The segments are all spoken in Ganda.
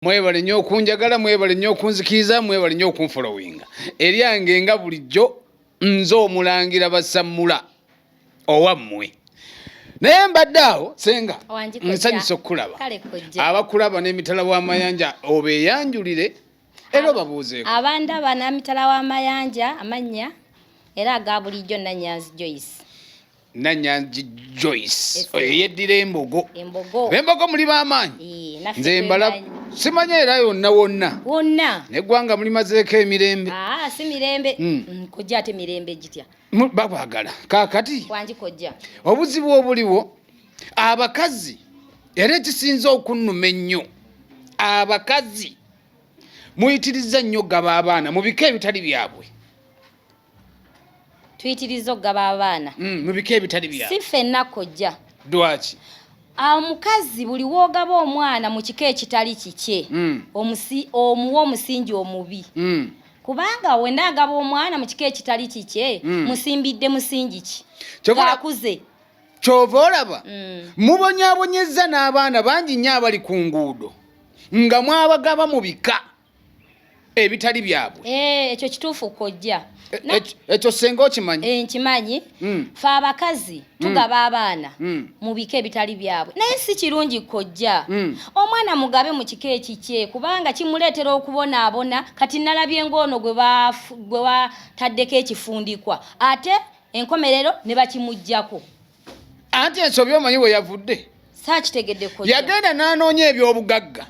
mwebale nnyo okunjagala mwebale nnyo okunzikiriza mwebale nnyo okunfolowinga eryange nga bulijjo nze omulangira basammula owammwe naye mbadde awo senga nsanyusa okukulaba abakulaba n'emitala w'amayanja obeeyanjulire era obabuuzeeko abandaba n'amitala w'amayanja amannya era aga bulijjo nanyanzi joyce Nanyanzi Joyce oyo yeddira embogo bembogo muli bamaanyi nze mbala simanya era yonna wonna wonna neggwanga muli mazeeko emirembe ah, si mirembe hmm. mm, kojja ate mirembe gitya bakwagala kakati wangi kojja obuzibu obuliwo abakazi era ekisinza okunnuma ennyo abakazi muyitirizza nnyo gaba abaana mu bika ebitali byabwe tuyitiriza okugaba abaana mm, mu bika ebitali bya si fenna kojja dwaki omukazi buli woogaba omwana mu kika ekitali kikye mm. omuwa omusingi omubi mm. kubanga wena agaba omwana mu kika ekitali kikye musimbidde musingi ki akuze kyova olaba mubonyabonyezza n'abaana bangi nnyo abali ku nguudo nga mwabagaba mu bika ebitali byabwe eh, ekyo kituufu kojja eh, ekyo senga okimanyi eh, nkimanyi hmm. fe abakazi hmm. tugaba abaana hmm. mu bika ebitali byabwe naye si kirungi kojja omwana mugabe mu kika ekikye kubanga kimuleetera okubonaabona kati nalabye ng'ono gwe bataddeko ekifundikwa ate enkomerero ne bakimuggyako anti ensobi omanyi we yavudde yagenda n'anoonya ebyobugagga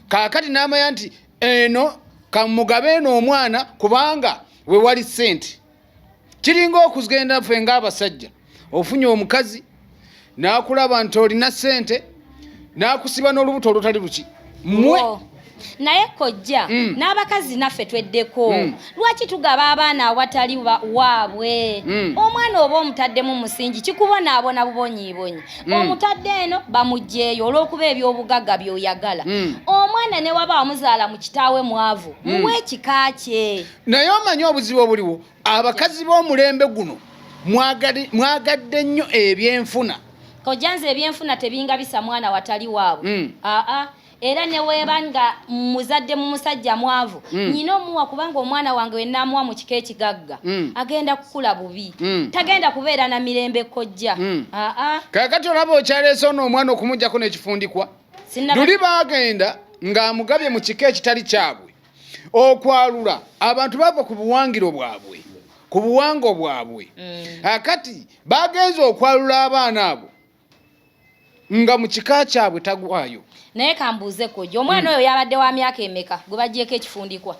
kaakati n'amanya nti eno kamugabe eno omwana kubanga we wali ssente kiringa okugenda ffe ng'abasajja ofunye omukazi n'akulaba nti olina ssente nakusiba n'olubuto olutali luki mwe naye kojja mm. n'abakazi naffe tweddeko mm. lwaki tugaba abaana awatali waabwe mm. omwana oba omutaddemu musingi kikubonaabona bubonyiibonyi mm. omutadde eno bamugyeyo olw'okuba eby'obugagga byoyagala mm. omwana ne waba wamuzaala mu kitaawe mwavu mm. muwe ekika kye naye omanyi obuzibu obuliwo abakazi b'omulembe guno mwagadde nnyo ebyenfuna kojja nze ebyenfuna tebingabisa mwana watali waabwe mm. aa ah, ah. era neweeba nga muzadde mu musajja mwavu mm. nyina omuwa kubanga omwana wange wenaamuwa mu kika ekigagga mm. agenda kukula bubi mm. tagenda kubeera na mirembe kojja mm. aa ah, kakati olaba okyaleese ono omwana okumugjako n'ekifundikwa luli baagenda ng'amugabye mu kika ekitali kyabwe okwalula abantu bava ku buwangiro bwabwe ku buwango bwabwe mm. akati ah, bagenza okwalula abaana abo nga mu kika kyabwe tagwayo naye kambuuze kojja omwana mm. oyo yabadde wa myaka emeka gwe bagyeko ekifundikwa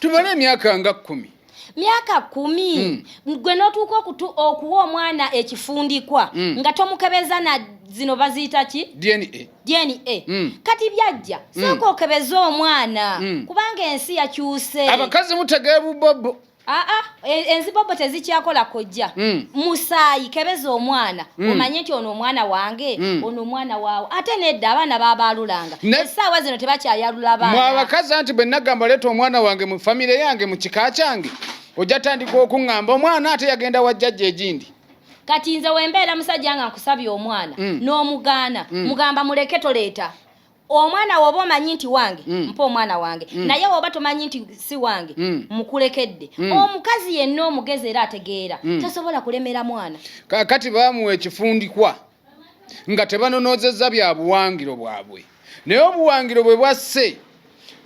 tumale emyaka nga kkumi myaka kumi mm. gwe notuuka okuwa omwana ekifundikwa mm. nga tomukebeza na zino baziyita ki dna dna mm. kati byajja mm. sooka okebeze omwana mm. kubanga ensi yakyuse abakazi mutegee bubobo aa ah, ah, e, enzibobo tezikyakola kojja mm. musaayi kebeza omwana mm. omanye nti ono omwana wange mm. ono omwana waawo ate nedda abaana babaalulanga essaawa zino tebakyayalula baana mwe abakazi anti bwe nagamba leeta omwana wange mu famire yange mu kika kyange ojja tandika okuŋŋamba omwana ate yagenda wa jjajja egindi kati nze wembeera musajja nga nkusabye omwana mm. n'omugaana mm. mugamba muleke toleeta omwana woba omanyi nti wange mm. mpa omwana wange mm. naye woba tomanyi nti si wange mm. mukulekedde mm. omukazi yenna omugezi era ategeera mm. tasobola kulemera mwana kakati bamuwa ekifundikwa nga tebanonoozezza bya buwangiro bwabwe naye obuwangiro bwe bwasse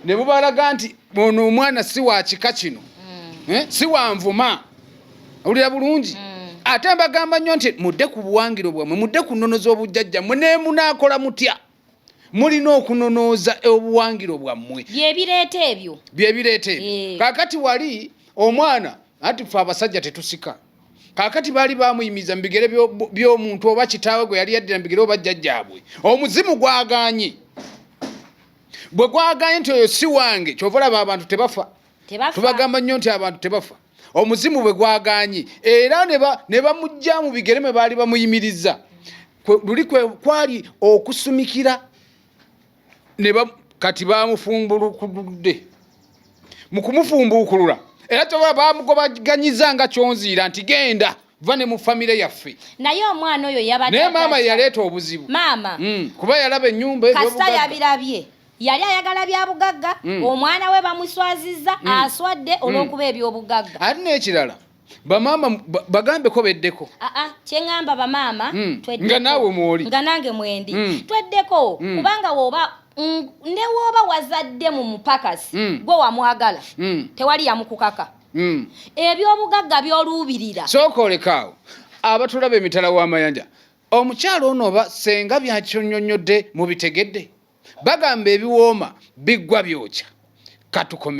ne bubalaga nti ono omwana si wa kika kino mm. eh, si wa nvuma owulira bulungi mm. ate mbagamba nnyo nti mudde ku buwangiro bwammwe mudde ku nnono z'obujjajjammwe nemunaakola mutya mulina okunonooza obuwangiro bwammwe byebireeta ebyo byebireeta ebyo eh. kakati wali omwana anti fe abasajja tetusika kakati baali bamuyimiza mu bigere by'omuntu oba kitaawe gwe yali yaddira mu bigere oba jjajjaabwe omuzimu gwaganye bwe gwaganye nti oyo si wange kyova olaba abantu tebafa tubagamba nnyo nti abantu tebafa omuzimu bwe gwagaanyi era ne bamujja mu bigere mwe baali bamuyimiriza luli kwali okusumikira kati bamufumbulukudde mu kumufumbuukulula era toba bamugobaganyiza nga kyonziira nti genda va ne mu famire yaffe naye omwana oyo yabadde naye maama yaleeta obuzibu maama mm, kuba yalaba ennyumba kasita yabirabye yali ayagala bya bugagga mm. omwana we bamuswazizza mm. aswadde mm. olw'okuba eby'obugagga ate n'ekirala bamaama bagambeko beddeko aa ah, ah, kyeŋamba bamaama mm. nga naawe mwoli nga nange mwendi mm. tweddeko mm. kubanga woba mm, ne woba wazadde mu mupakasi mm. gwe wamwagala mm. tewali yamukukaka mm. ebyobugagga byoluubirira sooka olekaawo abatulaba emitala w'amayanja Omukyala ono oba senga byakinyonyodde mubitegedde? Bagamba ebiwooma biggwa byokya. Katukomewo.